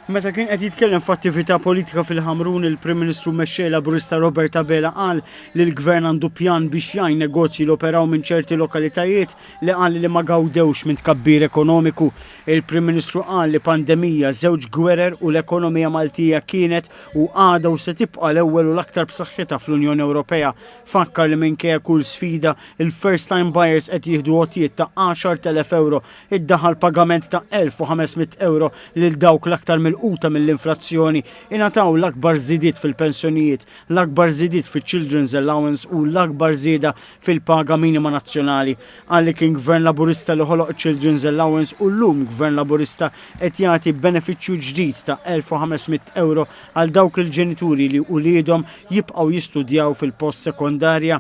Meta kien qed jitkellem f'attività politika fil-Ħamrun, il-Prim Ministru Mexxej Laburista Robert Abela qal li l-Gvern għandu pjan biex jgħin negozji li operaw minn ċerti lokalitajiet li qal li ma gawdewx minn tkabbir ekonomiku. Il-Prim Ministru qal li pandemija, żewġ gwerer u l-ekonomija Maltija kienet u għadha u se tibqa' l-ewwel u l-aktar b'saħħitha fl-Unjoni Ewropea. Fakkar li minkejja kull sfida, il-first time buyers qed jieħdu għotjiet ta' 10,000 ewro iddaħħal pagament ta' 1,500 euro lil dawk l-aktar milquta mill-inflazzjoni, ingħataw l-akbar żidiet fil-pensjonijiet, l-akbar żidiet fiċ-Children's Allowance u l-akbar żieda fil-paga minima nazzjonali. Qal li kien Gvern Laburista li ħoloq iċ-Children's Allowance u llum Gvern Laburista qed jagħti benefiċċju ġdid ta' 1,500 euro għal dawk il-ġenituri li uliedhom jibqgħu jistudjaw fil-post sekondarja.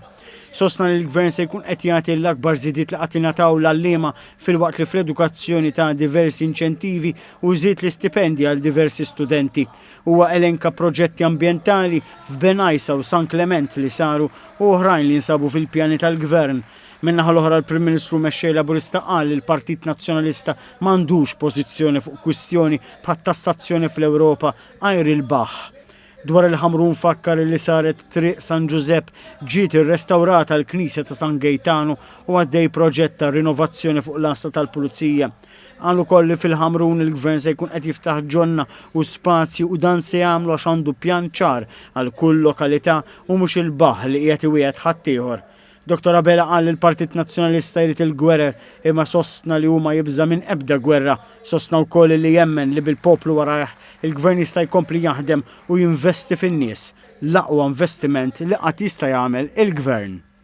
Sostna li l-Gvern se jkun qed jagħti l-akbar żidiet li qatt ingħataw l-għalliema filwaqt li fl-edukazzjoni ta' diversi inċentivi u żied l-istipendji għal diversi studenti. Huwa elenka proġetti ambjentali f'Benajsa u San Klement li saru u oħrajn li nsabu fil-pjani tal-Gvern. Min-naħa l-oħra l-Prim Ministru Mexxej Laburista qal li l-Partit Nazzjonalista m'għandux pożizzjoni fuq kwistjoni bħat-tassazzjoni fl-Ewropa għajr il-baħħ. Dwar il-Ħamrun fakkar li saret Triq San Ġużepp, ġiet irrestawrata l-Knisja ta' San Gejtanu u għaddej proġett ta' rinovazzjoni fuq l-Għassa tal-Pulizija. Qal ukoll li fil-Ħamrun il-Gvern se jkun qed jiftaħ ġonna u spazji u dan se jagħmlu għax għandu pjan ċar għal kull lokalità u mhux il-Baħħ li qiegħed iwiegħed ħaddieħor. Dottor Abela qal li l-Partit Nazzjonalista jrid il-gwerer imma sostna li hu ma jibża' minn ebda gwerra. Sostna wkoll li jemmen li bil-poplu warajh, il-Gvern jista' jkompli jaħdem u jinvesti fin-nies, l-aqwa investiment li qatt jista' jagħmel il-Gvern.